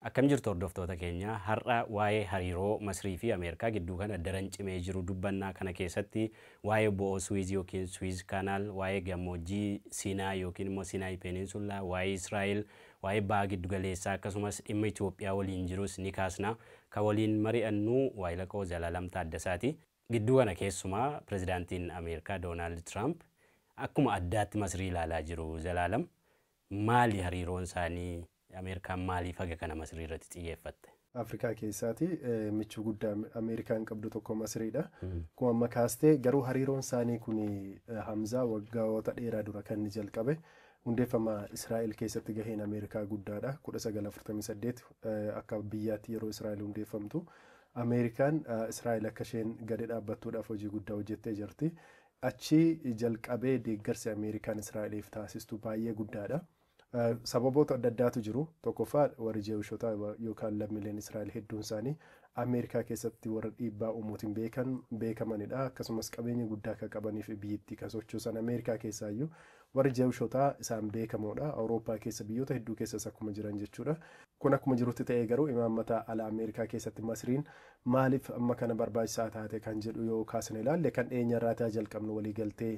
Akkam jirtu hordoftoota keenya. Har'a waa'ee hariiroo Masrii fi Ameerikaa gidduu kana daran cimee jiru dubbanna. Kana keessatti waa'ee bo'oo Suwiiz ykn Swiss Canal, waa'ee gammoojjii Siinaa ykn immoo Sinai Peninsula, waa'ee Israa'el, waa'ee Baha Giddugaleessaa akkasumas dhimma Itoophiyaa waliin jirus ni kaasna. Kan waliin mari'annu waahilakoo Zalaalam Taaddasaati. Gidduu kana keessumaa Pirezidaantiin Ameerikaa Doonaald Tiraamp akkuma addaatti Masrii ilaalaa jiru. Zalaalam, maali hariiroon isaanii? Ameerikaan maaliif haga kana Masrii irratti xiyyeeffatte? Afrikaa keessaati michuu guddaa Ameerikaan qabdu tokko Masriidha. Akkuma amma kaaste garuu hariiroon isaanii kun Hamzaa waggaawota dheeraa dura kan inni jalqabe hundeeffama Israa'el keessatti gaheen Ameerikaa guddaadha. 1948 akka biyyaatti yeroo Israa'el hundeeffamtu Ameerikaan Israa'el akka isheen gadi dhaabbattuudhaaf hojii guddaa hojjettee jirti. Achi jalqabee deeggarsi Ameerikaan Israa'eliif taasistu baay'ee guddaadha. Sababoota adda addaatu jiru. Tokkoffaa warri Jewishotaa yookaan lammiileen Israa'el hedduun isaanii Ameerikaa keessatti warra dhiibbaa uumuutiin beekan beekamanidha. Akkasumas qabeenya guddaa akka qabanii fi biyyittii kan sochoosan Ameerikaa keessaayyuu warri Jewishotaa isaan beekamoodha. Awurooppaa keessa biyyoota hedduu keessas akkuma jiran jechuudha. Kun akkuma jirutti ta'ee garuu imaammata ala Ameerikaa keessatti Masriin maaliif amma kana barbaachisaa taate kan jedhu yoo kaasne ilaalle kan dhiyeenyarraati haa jalqabnu waliigaltee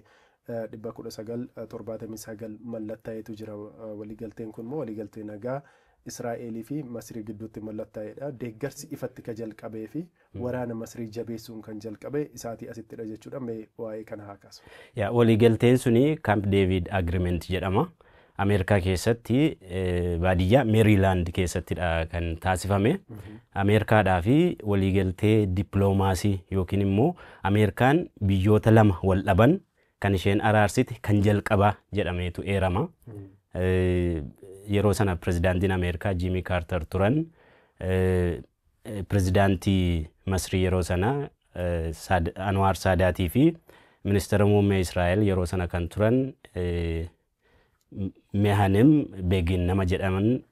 dhibba 19, 79 mallattaa'etu jira. Waliigalteen kun immoo waliigaltee nagaa Israa'eelii fi Masrii gidduutti mallattaa'edha. Deeggarsi ifatti ka jalqabee fi waraana Masrii jabeessuun kan jalqabe isaatii asittidha jechuudha. Mee waa'ee kana haa kaasu. Yaa waliigalteen suni Camp David Agreement jedhama. Ameerikaa keessatti baadiyyaa Meeriilaand keessattidha kan taasifame. Ameerikaadhaa fi waliigaltee dippiloomaasii yookiin immoo Ameerikaan biyyoota lama wal dhaban kan isheen araarsite kan jalqabaa jedhameetu eerama. Yeroo sana pirezidaantiin Ameerikaa Jiimii Kaartar turan. Pirezidaantii Masrii yeroo sana Anwaar Saadaatii fi ministeera muummee Israa'el yeroo sana kan turan Mehanem Begin nama jedhaman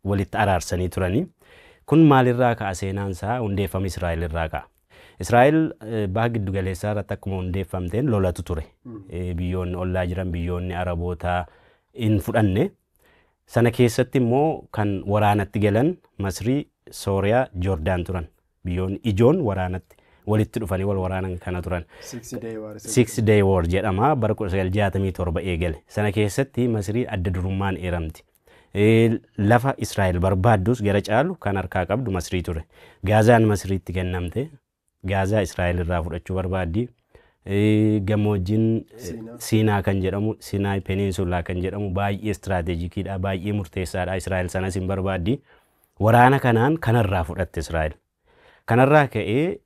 walitti araarsanii turani. Kun maalirraa ka'a seenaan isaa? Hundeeffama Israa'el irraa ka'a. Israa'el baha giddu galeessaa irratti akkuma hundeeffamteen lolatu ture. Biyyoonni ollaa jiran biyyoonni Araboota hin fudhanne. Sana keessatti immoo kan waraanatti galan Masrii, Sooriyaa, Joordaan turan. Biyyoonni ijoon waraanatti walitti dhufanii wal waraanan kana turan. Six Day War isa Six jedhamu. Day War jedhama. Bara 1967 eegale. Sana keessatti Masiriin adda durummaan eeramti. Eh, Lafa Israa'el barbaaddus gara caalu kan harkaa qabdu Masirii ture. Gaazaan Masiriitti kennamte. Gaazaa Israa'el irraa fudhachuu barbaaddi. Eh, Gammoojjiin eh, Siinaa. Siinaa kan jedhamu, Sinaay Peniinsulaa kan jedhamu baay'ee istiraateejikiidha, baay'ee murteessaadha. Israa'el sanas hin barbaaddi. Waraana kanaan kanarraa fudhatte Israa'el. Kanarraa ka'ee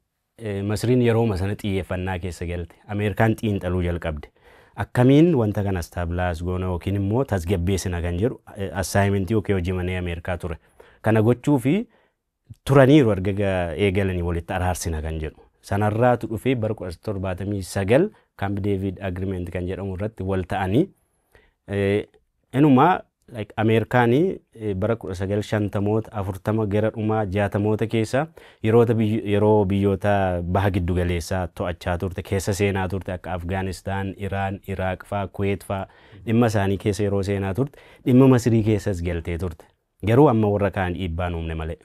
Masriin yerooma sana xiyyeeffannaa keessa galte. Ameerikaan xiinxaluu jalqabde. Akkamiin wanta kana stabilize goona yookiin immoo tasgabbeessina kan jedhu assignment yookiin hojii manee Ameerikaa ture. Kana gochuuf turaniiru erga eegalanii walitti araarsina kan jedhu. Sanarraatu dhufee bara 1979 Camp David Agreement kan jedhamu irratti wal ta'anii Inumaa like Ameerikaani bara 1950moota 40 gara dhumaa 60moota keessa yeroota yeroo biyyoota baha giddu galeessaa to'achaa turte keessa seenaa turte akka Afgaanistaan, Iraan, Iraaq faa, Kuweet faa dhimma isaanii keessa yeroo seenaa turte dhimma Masirii keessas galtee turte. Garuu amma warra kaan dhiibbaan uumne malee.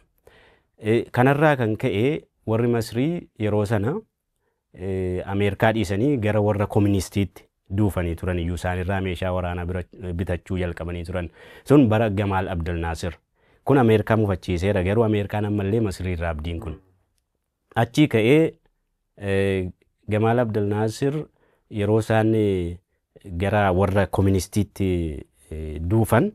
Kanarraa kan ka'e warri Masirii yeroo sana Ameerikaa dhiisanii gara warra komunistiitti duufanii turan iyyuu isaanirraa meeshaa waraanaa bira bitachuu jalqabanii turan. Sun bara Gamaal Abdel Naasir. Kun Ameerikaa mufachiiseera garuu Ameerikaan ammallee Masiriirraa abdiin kun. Achii ka'ee Gamaal Abdel Naasir yeroo isaan gara warra koministiitti duufan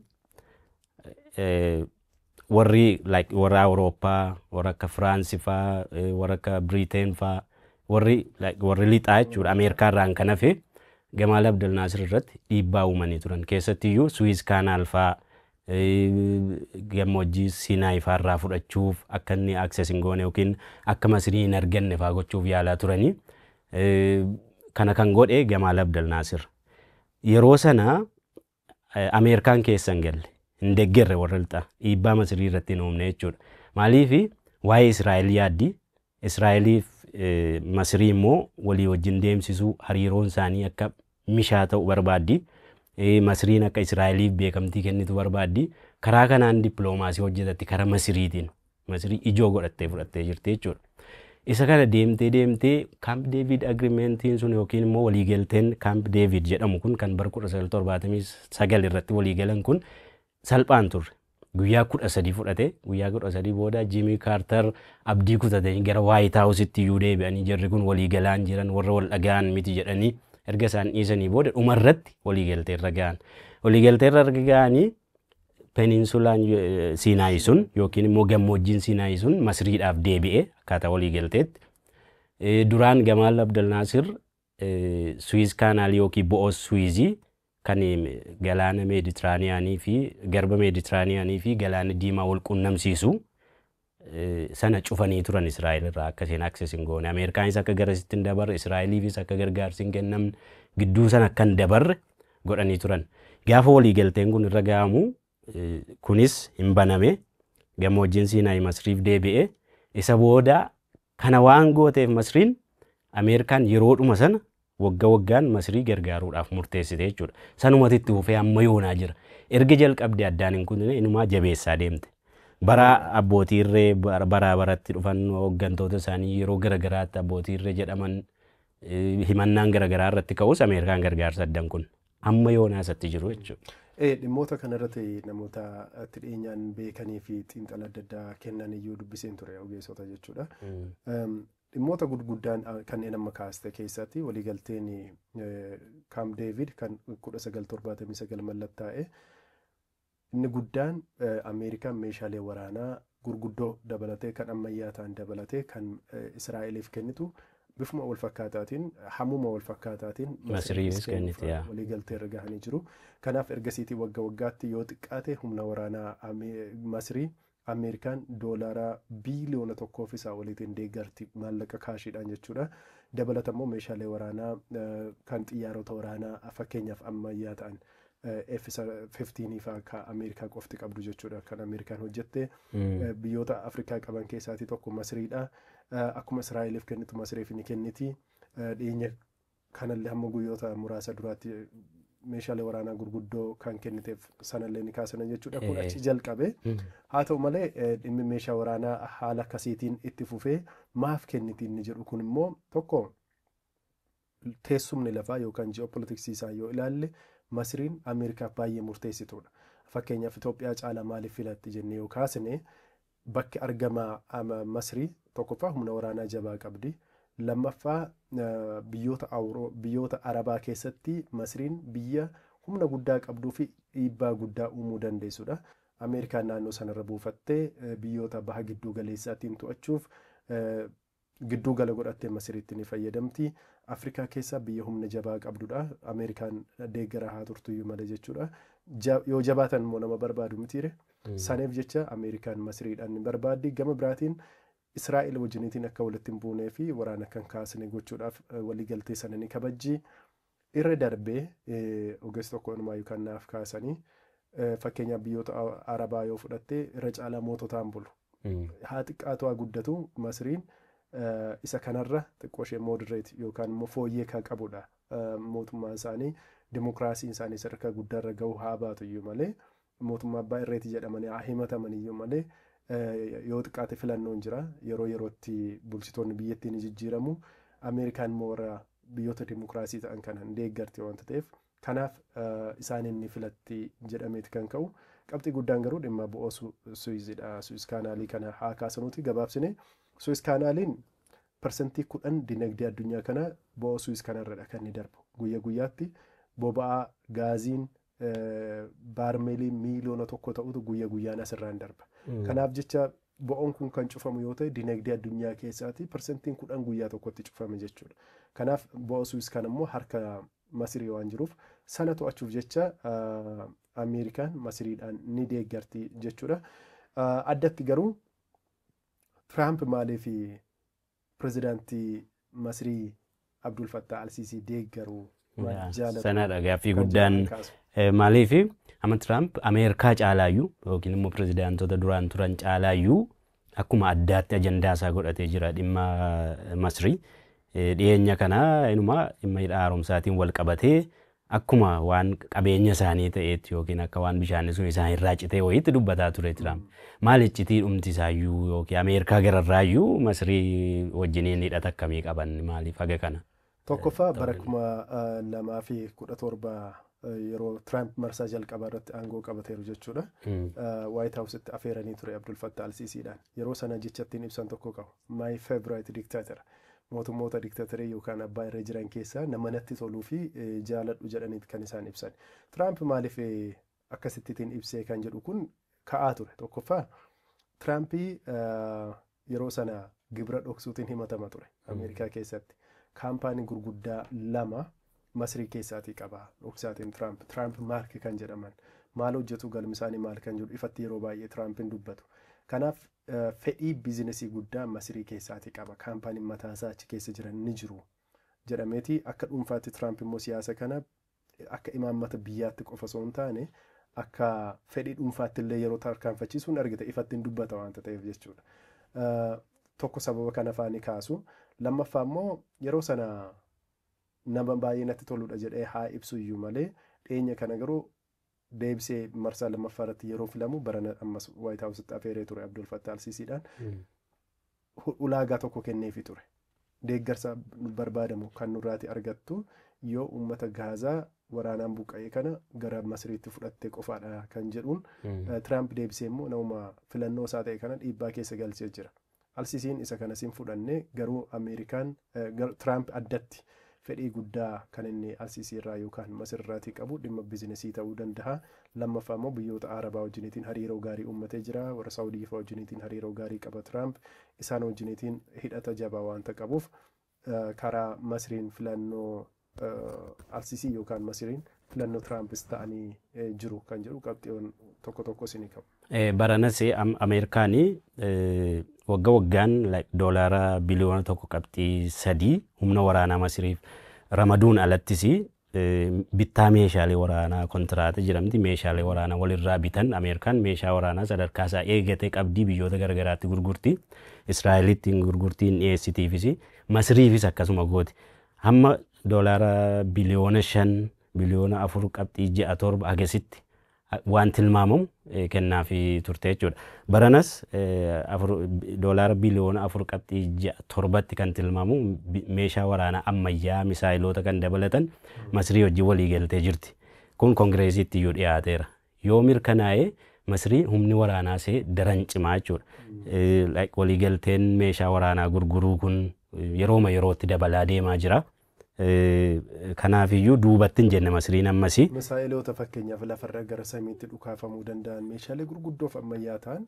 warri like warra Awurooppaa warra akka Firaansi faa warra akka Biriiteen faa warri like warri lixaa jechuudha Ameerikaa irraan kan hafe Gamaal Abdel Naasir irratti dhiibbaa uumanii turan keessattiyyuu Suwiiz Kaanaal faa Gammoojjii Siinaay faa irraa fudhachuuf akka inni access hin goone yookiin akka Masirii hin arganne faa gochuuf yaalaa turani. Kana kan godhe Gamaal Abdel Naasir. Yeroo sana Ameerikaan keessa hin galle. Hin deggerre warra lixaa. Dhiibbaa Masirii irratti hin uumne jechuudha. Maaliif waa'ee Israa'el yaaddi. Israa'eliif Masirii immoo walii wajjin deemsisuu, hariiroon isaanii akka mishaa ta'u barbaaddi. Masiriin akka Israa'eliif beekamtii kennitu barbaaddi. Karaa kanaan dippiloomaasii hojjetatti karaa Masiriitiin. Masirii ijoo godhattee fudhattee jirti jechuudha. Isa kana deemtee deemtee Kaamp Deeviid Agirimentiin sun yookiin immoo waliigalteen Kaamp Deeviid jedhamu kun kan bara 1979 irratti waliigalan kun salphaan turre. Guyyaa 13 fudhate. Guyyaa 13 booda Jimii Kaartar abdii kutatanii gara Waayit Haawusitti iyyuu deebi'anii jarri kun walii galaa hin jiran warra wal dhaga'an miti jedhanii erga isaan dhiisanii booda dhuma irratti walii galtee irra ga'an. Walii galtee irra erga ga'anii peninsulaan Siinaayii sun yookiin immoo gammoojjiin Siinaayii sun Masriidhaaf deebi'e akkaataa walii galteetti. Duraan Gamaal Abdel Naasir Suwiiz kaanaalii yookiin bo'oo Suwiizii kan Galaana Meeditiraaniyaanii fi Garba Meeditiraaniyaanii fi Galaana Diimaa wal quunnamsiisu sana cufanii turan Israa'el irraa akka isheen access hin goone. Ameerikaanis akka garasitti hin dabarre, Israa'eliifis akka gargaarsi hin kennamne, gidduu sana akka hin dabarre godhanii turan. Gaafa waliigalteen kun irra ga'amu Kunis hin baname. Gammoojjiin Siinaay Masriif deebi'e. Isa booda kana waan gooteef Masriin Ameerikaan yeroodhuma sana wagga waggaan Masrii gargaaruudhaaf murteessite jechuudha. Sanumatu itti fufee amma yoonaa jira. Erga jalqabdee addaan hin kutne inumaa jabeessaa deemte. Bara abbootii irree bara baraa baratti dhufan hooggantoota isaanii yeroo garagaraatti abbootii irree jedhaman himannaan garagaraa irratti ka'us Ameerikaan gargaarsa adda hin kunne. Amma yoonaa isatti jiru jechuudha. Ee, dhimmoota kanarratti namoota itti dhiyeenyaan beekanii fi xiinxala adda addaa kennan iyyuu dubbiseen ture ogeessota jechuudha. Em, Dhimmoota gurguddaan ah, kanneen amma kaaste keessatti waliigalteen eh, Kaamp Deevid kan 1979 mallattaa'e Inni guddaan Ameerikaan meeshaalee waraanaa gurguddoo dabalatee kan ammayyaa ta'an dabalatee kan Israa'eliif kennitu bifuma wal fakkaataatiin hammuma wal fakkaataatiin Masiriifis kennite yaa. walii galtee irra gahanii jiru. Kanaaf ergasiitii wagga waggaatti yoo xiqqaate humna waraanaa Ame- Masirii Ameerikaan doolaara biiliyoona tokkoo fi isaa oliitiin deeggarti, maallaqa kaashiidhaan jechuudha. Dabalata immoo meeshaalee waraanaa kan xiyyaarota waraanaa fakkeenyaaf ammayyaa ta'an F-15 fa'aa ka Ameerikaa qofti qabdu jechuudha kan Ameerikaan hojjette. Biyyoota Afrikaa qaban keessaatii tokko Masriidha. Akkuma Israa'eliif kennitu Masriif ni kenniti. Dhiyeenya Kanallee hamma guyyoota muraasa duraatti meeshaalee waraanaa gurguddoo kan kenniteef sanallee ni kaasina jechuudha. Kun achi jalqabe. Haa ta'u malee dhimmi meeshaa waraanaa haala akkasiitiin itti fufee maaf kenniti inni jedhu kun immoo tokko teessumni lafaa yookaan ji'oopolitiksii isaa yoo ilaalle Masriin Ameerikaaf baay'ee murteessituudha. Fakkeenyaaf Itoophiyaa caalaa maaliif filatti jennee yoo kaasne Bakki argama Masrii tokkoffaa humna waraanaa jabaa qabdi. Lammaffaa biyyoota biyyoota Arabaa keessatti Masriin biyya humna guddaa qabduu fi dhiibbaa guddaa uumuu dandeessudha. Ameerikaan naannoo sanarra buufattee biyyoota baha gidduu galeessaatiin to'achuuf gidduu gala godhattee Masiriitti ni fayyadamti. Afrikaa keessaa biyya humna jabaa qabdudha. Ameerikaan deeggaraa haa turtuyyuu malee jechuudha. Ja- Yoo jabaatan immoo nama barbaadu mitiire. Saniif jecha Ameerikaan Masiriidhaan ni barbaaddi. Gama biraatiin Israa'el wajjiniitiin akka walitti hin buunee fi waraana akka hin kaasne gochuudhaaf eh, waliigaltee sana ni kabajji. Irra darbee ogeessi tokko inumaayyuu kan naaf kaasani fakkeenyaaf biyyoota Arabaa yoo fudhatte irra caalaa moototaan bulu. Haa xiqqaatu haa guddatu Masriin isa kanarra xiqqoo ishee moderate yookaan immoo fooyyee kan qabudha. Mootummaan isaanii dimokiraasiin isaanii sadarkaa guddaarra gahuu haa baatu iyyuu malee mootummaa abbaa irreeti jedhamanii haa himataman iyyuu malee yoo xiqqaate filannoon jira. Yeroo yerootti bulchitoonni biyyattii ni jijjiiramu. Ameerikaan immoo warra biyyoota dimokiraasii ta'an kana hin deeggarti wanta ta'eef kanaaf isaaniin ni filatti jedhameeti kan ka'u. Qabxii guddaan garuu dhimma bo'oo Suwiizidha. Suwiiz kaanaalii kana haa kaasnuuti gabaabsine. Suwiiz kaanaaliin parsantii kudhan dinagdee addunyaa kanaa bo'oo Suwiiz kanarradha kan inni darbu. Guyya guyyaatti boba'aa, gaaziin, baarmeelii miiliyoona tokko ta'utu guyya guyyaan asirraan darba. Kanaaf jecha bo'oon kun kan cufamu yoo ta'e dinagdee addunyaa keessaatii parsantiin kudhan guyyaa tokkotti cufame jechuudha. Kanaaf bo'oo Suwiis kan immoo harka Masirii waan jiruuf sana to'achuuf jecha Ameerikaan Masiriidhaan ni deeggarti jechuudha. Addatti garuu Tiraamp maaliif Pirezidaantii Masrii Abdul Fattah Al-Siisii deeggaru maal Yaa, jaalatu? Sanadha gaaffii kan guddaan jedhan kaasu. Eh, maaliif amma Tiraamp Ameerikaa caalaayyuu yookiin immoo pirezidaantota duraan turan caalaayyuu akkuma addaatti ajandaa isaa godhatee jira dhimma eh, Masrii. Eh, Dhiyeenya kana inuma dhimma hidha haaromsaatiin wal qabatee Akkuma waan qabeenya isaanii ta'eetti yookiin akka waan bishaanni sun isaan irraa citee wayiitti dubbataa ture Tiraamp. Maal iccitii dhumti isaayyuu yookiin Ameerikaa gararraayyuu Masrii wajjiniin hidhata akkamii qaban maaliif haga kana? Tokkoffaa bara 2017 yeroo Tiraamp marsaa jalqabaa irratti aangoo qabateeru jechuudha. Waayit Haawusitti afeeranii ture Abdul Fattah Al-Siisiidhaan. Yeroo sana jecha ittiin ibsan tokko qabu. My favorite dictator. Mootummoota diktatoree yookaan abbaa irree jiran keessaa nama natti toluu fi jaaladhu jedhaniit kan isaan ibsan. Tiraamp maaliif akkasittitiin ibsee kan jedhu kun ka'aa ture. Tokkoffaa Tiraamp yeroo sana gibira dhoksuutiin himatama ture Ameerikaa keessatti. Kaampaanii gurguddaa lama Masrii keessaatii qaba dhoksaatiin Tiraamp. Tiraamp Maark kan jedhaman maal hojjetu galmi isaanii maal kan jedhu ifatti yeroo baay'ee Tiraampiin dubbatu. Kanaaf fedhii biizinasii guddaa Masirii keessaati qaba, kaampaaniin mataasaa achi keessa jiran ni jiru jedhameeti. Akka dhuunfaatti Tiraamp immoo siyaasa kana akka imaammata biyyaatti qofa osoo hin taane akka fedhii dhuunfaatti illee yeroo tarkaanfachiisu hin argita ifatti hin dubbata waanta ta'eef jechuudha. Tokko sababa kana fa'aa ni kaasu. Lammaffaa immoo yeroo sana nama baay'ee natti toludha jedhee haa ibsu iyyuu malee dhiyeenya kana garuu deebisee marsaa lammaffaa irratti yeroo filamu barana ammas Waayit Haawusitti afeeree ture Abdul Fattah Alsiisiidhaan hu- ulaagaa tokko kenneefi ture. Deeggarsa barbaadamu kan nurraati argattu yoo uummata Gaazaa waraanaan buqqa'e kana gara Masiriitti fudhatte qofaadha kan jedhuun eh, Tiraamp deebisee immoo nama filannoo isaa ta'e kana dhiibbaa keessa galchee jira. Alsisiin isa kanas hin fudhanne, garuu Ameerikaan, Tiraamp addatti, fedhii guddaa kan inni Alsisii irraa yookaan Masir irraatii qabu dhimma bizinesii ta'uu dandaha. Lammaffaa immoo biyyoota Arabaa wajjiniitiin hariiroo gaarii uummatee jira. Warra Saawudii faa wajjiniitiin hariiroo gaarii qaba Tiraamp. Isaan wajjiniitiin hidhata jabaa waanta qabuuf karaa Masriin filannoo Alsisii yookaan Masiriin filannoo Tiraampis ta'anii jiru kan jedhu qabxiiwwan tokko tokkos ni ka'u. Baranas Ameerikaan wagga waggaan doolaara biliyoona tokko qabxii sadii humna waraanaa Masiriif ramaduun alattis Bittaa meeshaalee waraanaa kontiraata jedhamti. Meeshaalee waraanaa walirraa bitan. Ameerikaan meeshaa waraanaa sadarkaa isaa eegate qabdi. Biyyoota garagaraatti gurgurti. Israa'elitti hin gurgurti, hin dhiyeessitiifis. Masiriifis akkasuma gooti. Hamma doolaara biliyoona shan, biliyoona afur qabxii ja'a torba hagasitti waan tilmaamamu kennaafii turte jechuudha. Baranas doolaara biliyoona 4.67tti kan tilmaamu meeshaa waraanaa ammayyaa misaayiloota kan dabalatan Masrii wajjin waliigaltee jirti. Kun Kongireesiitti iyyuu dhiyaateera. Yoo mirkanaa'e Masrii humni waraanaa see daran cimaa jechuudha. Waliigalteen meeshaa waraanaa gurguruu kun yerooma yerootti dabalaa deemaa jira. Kanaafiyyuu duubatti hin jenne Masriin ammas. Misaayeloota fakkeenyaaf lafarra gara samiitti dhukaafamuu danda'an meeshaalee gurguddoo fi ammayyaa ta'an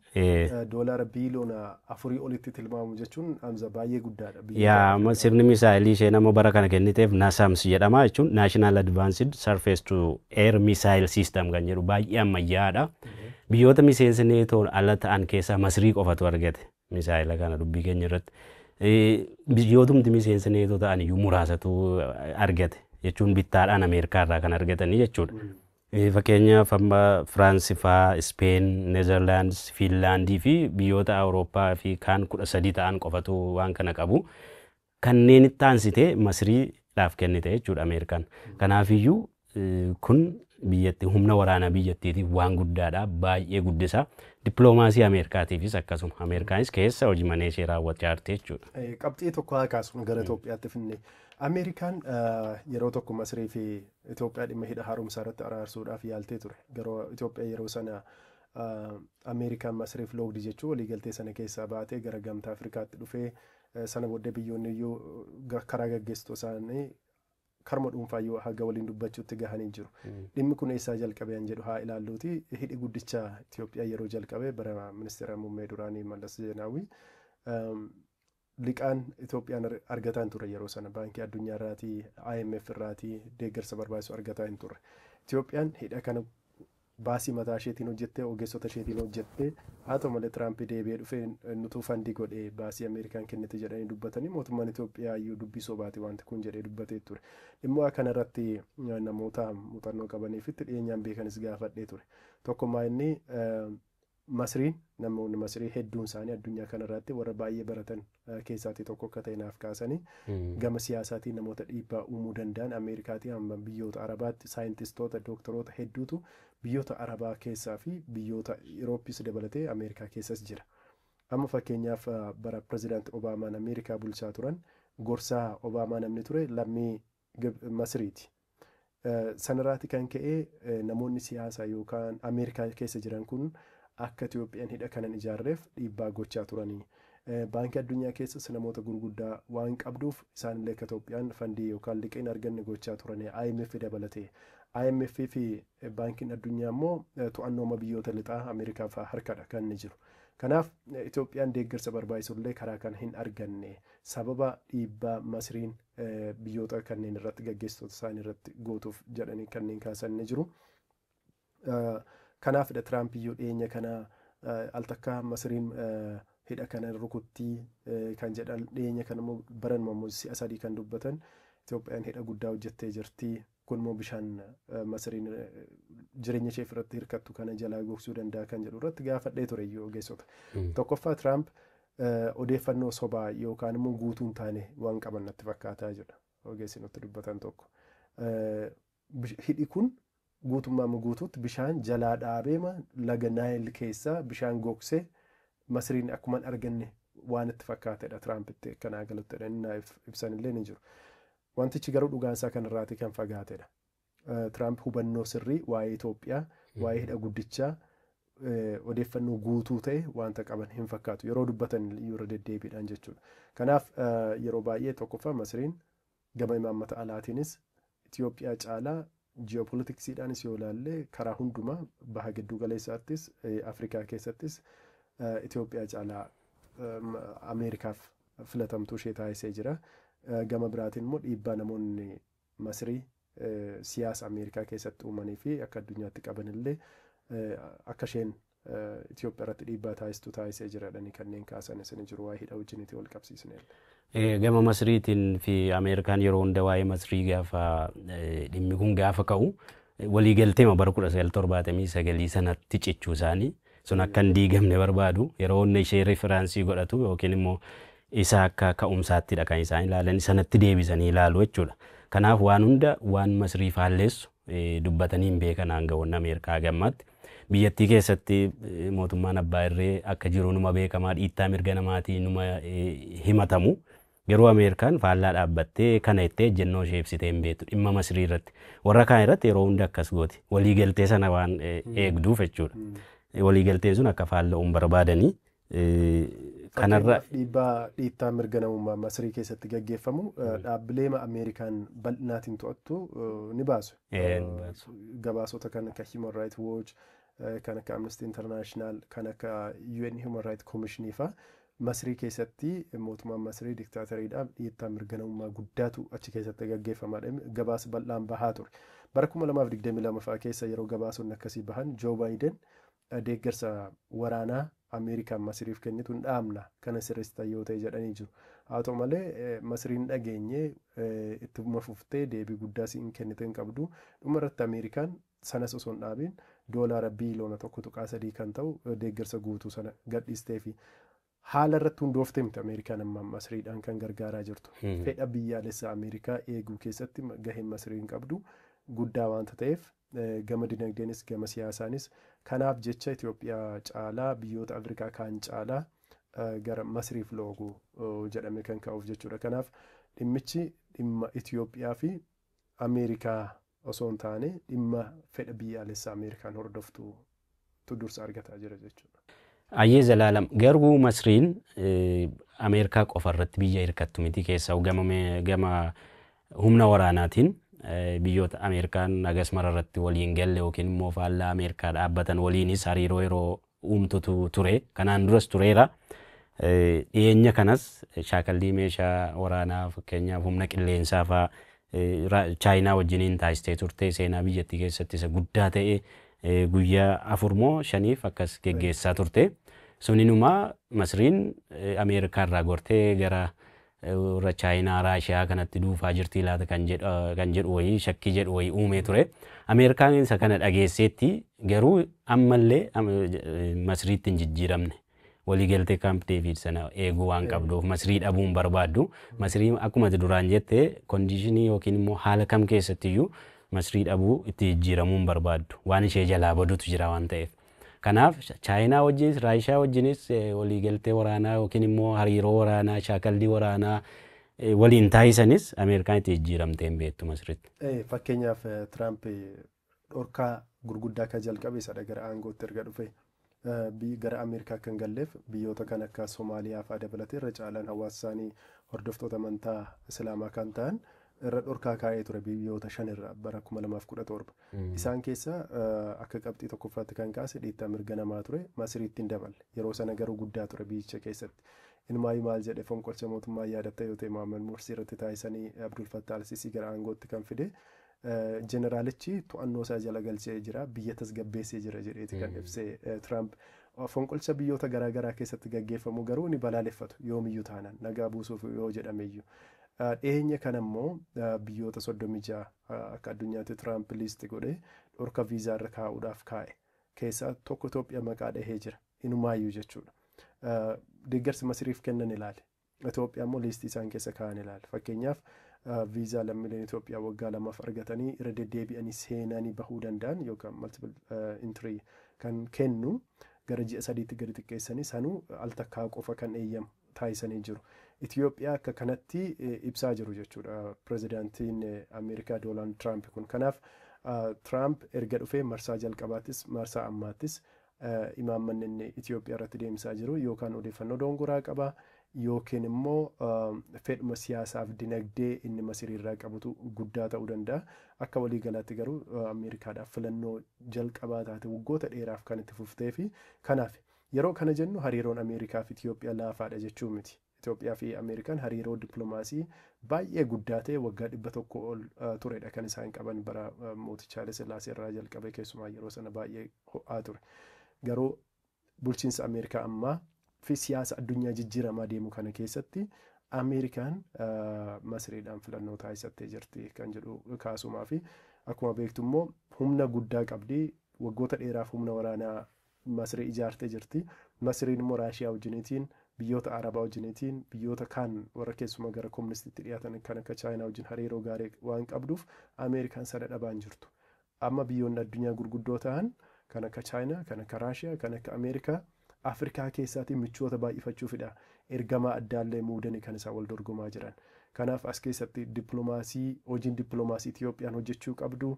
doolaara biiliyoona afurii olitti tilmaamu jechuun Hamza baay'ee guddaadha. Yaa sirni misaayilii isheen ammoo bara kana kenniteef NASAMS jedhama jechuun National Advanced Surface to Air Missile System kan jedhu baay'ee ammayyaa'aadha. Biyyoota miseensa neetoon ala ta'an keessaa Masrii qofatu argate. Misaa'ela kana dubbii keenya irratti biyyootumti miseensa neetoo ta'an iyyuu muraasatu argate jechuun bittaadhaan Ameerikaa irraa kan argatanii jechuudha. Fakkeenyaaf amma Firaansi faa, Ispeen, Neezerlaandis, Fiinlaandii fi biyyoota Awurooppaa fi kaan kudha sadii ta'an qofatu waan kana qabu. Kanneen itti aansitee Masirii dhaaf kennite jechuudha Ameerikaan. Kanaaf iyyuu kun biyyatti humna waraanaa biyyattiitiif waan guddaadha, baay'ee guddisa. Dippiloomaasii Ameerkaatiifis akkasuma. Ameerikaanis keessa hojii manee ishee raawwachaa jirti jechuudha. Qabxii tokko haa kaasnu gara Itoophiyaatti finnee. Ameerikaan yeroo tokko Masirii fi Itoophiyaa dhimma hidha haaromsaa irratti araarsuudhaaf yaaltee ture. Garuu Itoophiyaa yeroo sana Ameerikaan Masiriif loogdi jechuu waliigaltee sana keessaa baatee gara gamtaa Afrikaatti dhufee Sana booddee biyyoonni iyyuu karaa gaggeessituu isaanii karma dhuunfaa iyyuu haga waliin dubbachuutti gahanii jiru. Dhimmi kun eessaa jalqabe an jedhu haa ilaalluuti. Hidhi guddicha Itoophiyaa yeroo jalqabe bara ministeera muummee duraanii Mallas Zeenaawwii liqaan Itoophiyaan argataa hin turre yeroo sana baankii addunyaa irraatii IMF irraatii deeggarsa barbaachisu argataa hin turre. Itoophiyaan hidha kana Baasii mataa isheetiin hojjette, ogeessota isheetiin hojjette. Haa ta'u malee Tiraampi deebi'ee dhufee nutu fandi godhe, baasii Ameerikaan kennite jedhanii dubbatanii mootummaan Itoophiyaa iyyuu dubbii sobaati wanti kun jedhee dubbatee ture. Dhimma kana irratti namoota muuxannoo qabanii fi itti dhiyeenyaan beekanis gaafadhee ture. Tokkummaa inni Masrii, Namoonni Masrii hedduun isaanii addunyaa kana irraatti warra baay'ee baratan keessaatii tokko akka ta'e naaf kaasanii, gama siyaasaatiin namoota dhiibbaa uumuu danda'an Ameerikaatii hamma biyyoota Arabaatti saayintistoota, dooktaroota hedduutu biyyoota Arabaa keessaa fi biyyoota Irooppiis dabalatee Ameerikaa keessas jira. Amma fakkeenyaaf bara Pirezidaanti Obaamaan Ameerikaa bulchaa turan gorsaa Obaamaa namni ture lammii Masiriiti. Sanarraati kan ka'e namoonni siyaasa yookaan Ameerikaa keessa jiran kun akka Itoophiyaan hidha kanan ijaarreef dhiibbaa gochaa turani. Baankii Addunyaa keessas namoota gurguddaa waan qabduuf isaanillee akka Itoophiyaan fandii yookaan liqii hin arganne gochaa turani IMF dabalatee. IMF fi Baankiin Addunyaa immoo to'annooma biyyoota lixaa Ameerikaa fa'aa harkadha kan inni jiru. Kanaaf Itoophiyaan deeggarsa barbaachisullee karaa kana hin arganne sababa dhiibbaa Masiriin biyyoota kanneen irratti gaggeessitoota isaanii irratti gootuuf jedhanii kanneen kaasan ni jiru. Kanaafidha Tiraamp iyyuu dhiyeenya kana al takkaa Masiriin hidha kana rukuttii kan jedhan dhiyeenya kana immoo baranuma immoo si'a sadii kan dubbatan Itoophiyaan hidha guddaa hojjettee jirti Kun immoo bishaan Masiriin jireenya isheef irratti hirkattu kana jalaa gogsuu danda'a kan jedhu irratti gaafadhee ture iyyuu ogeessota. Tokkoffaa Tiraamp odeeffannoo sobaa yookaan immoo guutuu hin taane waan qaban natti fakkaataa jedha ogeessi nutti dubbatan tokko. Hidhi kun guutummaa guutuutti bishaan jalaa dhaabeema laga Naayil keessaa bishaan gogsee Masiriin akkuman arganne waan itti fakkaatedha Tiraampitti akkanaa galuttidha inni naaf ibsanillee ni jiru. Wantichi garuu dhugaan isaa kana irraatii kan fagaate dha. Tiraamp hubannoo sirrii waa'ee Itoophiyaa, waa'ee hidha guddichaa odeeffannoo guutuu ta'e wanta qaban hin fakkaatu. Yeroo dubbatan iyyuu irra deddeebiidhaan jechuudha. Kanaaf yeroo baay'ee tokkoffaa Masiriin gama imaammata alaatiinis Itoophiyaa caalaa Ji'opolitiksiidhaanis yoo ilaalle karaa hundumaa Baha Gidduu Galeessaattis, Afrikaa keessattis Itoophiyaa caalaa Ameerikaaf filatamtuu ishee taasisee jira. Gama biraatiin immoo dhiibbaa namoonni Masirii siyaasa Ameerikaa keessatti uumanii fi akka addunyaatti qaban illee akka isheen Itoophiyarratti dhiibbaa taasistu taasisee jira jedhanii kanneen kaasanis ni jiru waa'ee hidha wajjinitii walqabsiisneellee. Gama Masriitiin fi Ameerikaan yeroo hunda waa'ee Masrii gaafa dhimmi kun gaafa ka'u waliigalteema bara 1979 sanatti cichuu isaanii sun akka hin diigamne barbaadu yeroo hunda ishee referaansii godhatu yookiin immoo isa akka ka'umsaattidha kan isaan ilaalanii sanatti deebisanii ilaalu jechuudha. Kanaaf waan hunda waan Masrii faalleessu dubbatanii hin beekan aangawoonni Ameerikaa haga ammaatti. Biyyattii keessatti mootummaan abbaa irree akka jiru numa beekamaa dhiittaa mirga namaatii numa himatamu. Garuu Ameerikaan faallaa dhaabbattee kana jettee ejjennoo ishee ibsitee hin beektu dhimma Masrii irratti. Warra kaan irratti yeroo hunda akkas gooti. Waliigaltee sana waan eegduuf jechuudha. Waliigalteen sun akka faalla'u hin barbaadanii Kanarra Fakkeenyaaf dhiibbaa dhiittaa mirga namummaa Masirii keessatti gaggeeffamu eh, dhaabbilee ma- Ameerikaan bal'inaatiin to'attu eh, ni baasu. Eh, ni baasu. Gabaasota kan akka Human Rights Watch, eh, kan akka Amnesty International, kan akka UN Human Rights Commission faa Masirii keessatti mootummaan Masirii diktaatariidha dhiittaa mirga namummaa guddaatu achi keessatti gaggeeffama jedhame gabaasa bal'aan bahaa ture. Bara 2022 faa keessa yeroo gabaasonni akkasii bahan Joo Baayiden Deeggarsa waraanaa Ameerikaan Masiriif kennitu hin dhaabna kana sirreessitan yoo ta'e jedhanii jiru. Haa ta'u malee Masiriin hin dhageenye ittuma fuftee deebii guddaas hin kennite hin qabdu. Dhuma irratti Ameerikaan sanas osoo hin dhaabiin doolaara biiloona 1.3 kan ta'u deeggarsa guutuu sana gadhiisteefi. Haala irratti hundoofte miti Ameerikaan amma Masriidhaan kan gargaaraa jirtu. Fedha biyyaalessa Ameerikaa eeguu keessatti gaheen Masriin qabdu guddaa waanta ta'eef gama dinagdeenis gama siyaasaanis kanaaf jecha Itoophiyaa caalaa biyyoota Afrikaa kaan caalaa gara Masriif loogu jedhamee kan ka'uuf jechuudha. Kanaaf dhimmichi dhimma Itoophiyaa fi Ameerikaa osoo hin taane dhimma fedha biyyaalessa Ameerikaan hordoftu tu dursa argataa jira jechuudha. Ayyee Zalaalam garuu Masriin Ameerikaa qofa irratti biyya hirkattu miti keessaa gama humna waraanaatiin biyyoota Ameerikaan hagas mara irratti waliin galle yookiin immoo faallaa Ameerikaa dhaabbatan waliinis hariiroo yeroo uumtutu ture kanaan duras tureera. Dhiyeenya kanas shaakallii meeshaa waraanaa fakkeenyaaf humna qilleensaa fa'aa Chaayinaa wajjiniin taasistee turte seenaa biyyattii keessatti isa guddaa ta'e guyyaa afur moo shaniif akkas geggeessaa turte. Suninuma Masriin Ameerikaa irraa gortee gara warra Chaayinaa, Raashiyaa kanatti duufaa jirtii laata kan jedhu kan jedhu wayii shakkii jedhu wayii uumee ture. Ameerikaan isa kana dhageesseetti garuu ammallee am- Masriitti hin jijjiiramne. Waliigaltee Kaamp Deeviid sana eeguu waan qabduuf Masrii dhabuu hin barbaaddu. Masrii akkuma ati duraan jette kondiishinii yookiin immoo haala kam keessatti iyyuu Masrii dhabuu itti jijjiiramuu hin barbaaddu. Waan ishee jalaa badutu jira waan ta'eef. Kanaaf Chaayinaa wajjinis Raashiyaa wajjinis waliigaltee waraanaa yookiin immoo hariiroo waraanaa shaakallii waraanaa waliin taasisanis Ameerikaan itti jijjiiramtee hin beektu Masritti. Fakkeenyaaf Tiraamp dhorkaa gurguddaa ka jalqabe isadha gara aangootti erga dhufe gara Ameerikaa akka hin galleef biyyoota kan akka Somaaliyaa fa'aa dabalatee irra caalaan hawaasa isaanii hordoftoota amantaa Islaamaa kan ta'an irra dhorkaa kaa'ee ture biyyoota shan irraa bara 2017. Isaan keessa akka qabxii tokkoffaatti kan kaase dhiittaa mirga namaa ture Masiriitti hin daballe. Yeroo sana garuu guddaa ture biyyicha keessatti. Inumaayyuu maal jedhe fonqolcha mootummaa yaadatta yoo ta'e Mohaammed Morsi irratti taasisanii Abdul Fattah al-Sisi gara aangootti kan fide Jeneraalichi to'annoo isaa jala galchee jira, biyya tasgabbeessee jira jedheeti kan ibse Tiraamp. Fonqolcha biyyoota garaa garaa keessatti gaggeeffamu garuu ni balaaleffatu yoomiyyuu taanaan nagaa buusuuf yoo jedhameyyuu. Dhiyeenya kana immoo biyyoota 36 akka addunyaatti Tiraamp liisti godhee dhorka viizaa irra kaa'uudhaaf kaa'e keessaa tokko Itoophiyaa maqaa dhahee jira. Inumaayyuu jechuudha. Deeggarsi Masiriif kennan ilaali. Itoophiyaa immoo liistii isaan keessa kaa'an ilaali. Fakkeenyaaf viizaa lammiileen Itoophiyaa waggaa lamaaf argatanii irra deddeebi'anii seenanii bahuu danda'an yookaan multiple entry kan kennu gara ji'a sadiitti gadi xiqqeessanii sanuu al takkaa qofa kan eeyyamu taasisanii jiru. Itoophiyaa akka kanatti ibsaa jiru jechuudha pirezidaantiin Ameerikaa Doonaald Tiraamp kun. Kanaaf Tiraamp erga dhufee marsaa jalqabaattis marsaa ammaattis imaammanni inni Itiyoophiyaa irratti deemsaa jiru yookaan odeeffannoo doongoraa qaba yookiin immoo fedhuma siyaasaaf dinagdee inni Masirii irraa qabutu guddaa ta'uu danda'a. Akka walii galaatti garuu Ameerikaadhaaf filannoo jalqabaa taate waggoota dheeraaf kan itti fuftee fi kanaaf yeroo kana jennu hariiroon Ameerikaa fi Itiyoophiyaa laafaadha jechuu miti. Itoophiyaa fi Ameerikaan hariiroo dippilomaasii baay'ee guddaa ta'e waggaa 100 ol turedha kan isaan qaban bara mooticha Haile Sillaasee irraa jalqabee keessumaa yeroo sana baay'ee ho'aa ture. Garuu bulchiinsa Ameerikaa ammaa fi siyaasa addunyaa jijjiiramaa deemu kana keessatti Ameerikaan Masiriidhaan filannoo taasisattee jirti kan jedhu kaasumaa fi akkuma beektu immoo humna guddaa qabdi waggoota dheeraaf humna waraanaa Masrii ijaartee jirti. Masriin immoo Raashiyaa wajjiniitiin, biyyoota Arabaa wajjiniitiin, biyyoota kaan warra keessumaa gara komunistiitti dhiyaatan kan akka Chaayinaa wajjin hariiroo gaarii waan qabduuf Ameerikaan sana dhabaa hin jirtu. Amma biyyoonni addunyaa gurguddoo tahan kan akka Chaayinaa, kan akka Raashiyaa, kan akka Ameerikaa Afrikaa keessaatii michoota baay'ifachuufidha. Ergamaa addaallee muudani kan isaan wal dorgomaa jiran. Kanaaf as keessatti dippilomaasii, hojiin dippilomaasii Itiyoophiyaan hojjechuu qabdu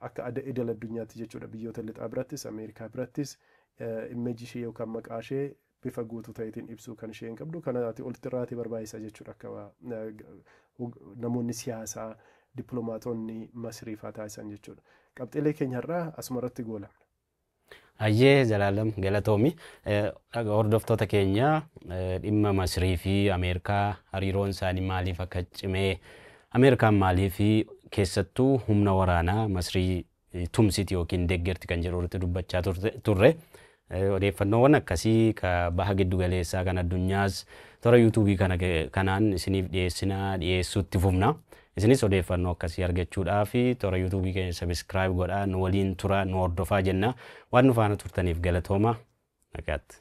Akka ada idil addunyaatti jechuudha biyyoota lixaa birattis Ameerikaa birattis image ishee yookaan maqaa ishee bifa guutuu ta'eetiin ibsuu kan isheen qabdu kana ati olitti irraatee barbaachisa jechuudha akka namoonni siyaasaa dippiloomaatonni Masrii faa taasisan jechuudha. Qabxiilee keenya har'aa asuma irratti goolabna. Hayyee Zalaalam galatoomi. Dhaga hordoftoota keenya dhimma Masrii fi Ameerikaa hariiroon isaanii maaliif akka cime Ameerikaan maaliif keessattuu humna waraanaa Masrii tumsiti yookiin deeggarti kan jedhu irratti dubbachaa turte- turre. Eh, Odeeffannoowwan akkasii ka baha giddu galeessaa kan addunyaas toora yuutuubii kana ke- kanaan isiniif dhiyeessinaa dhiyeessuutti fufna. Isinis odeeffannoo akkasii argachuudhaaf toora YouTube keenya subscribe godhaa, nu waliin turaa, nu hordofaa jenna. Waan nu faana turtaniif galatoomaa. Nagaatti.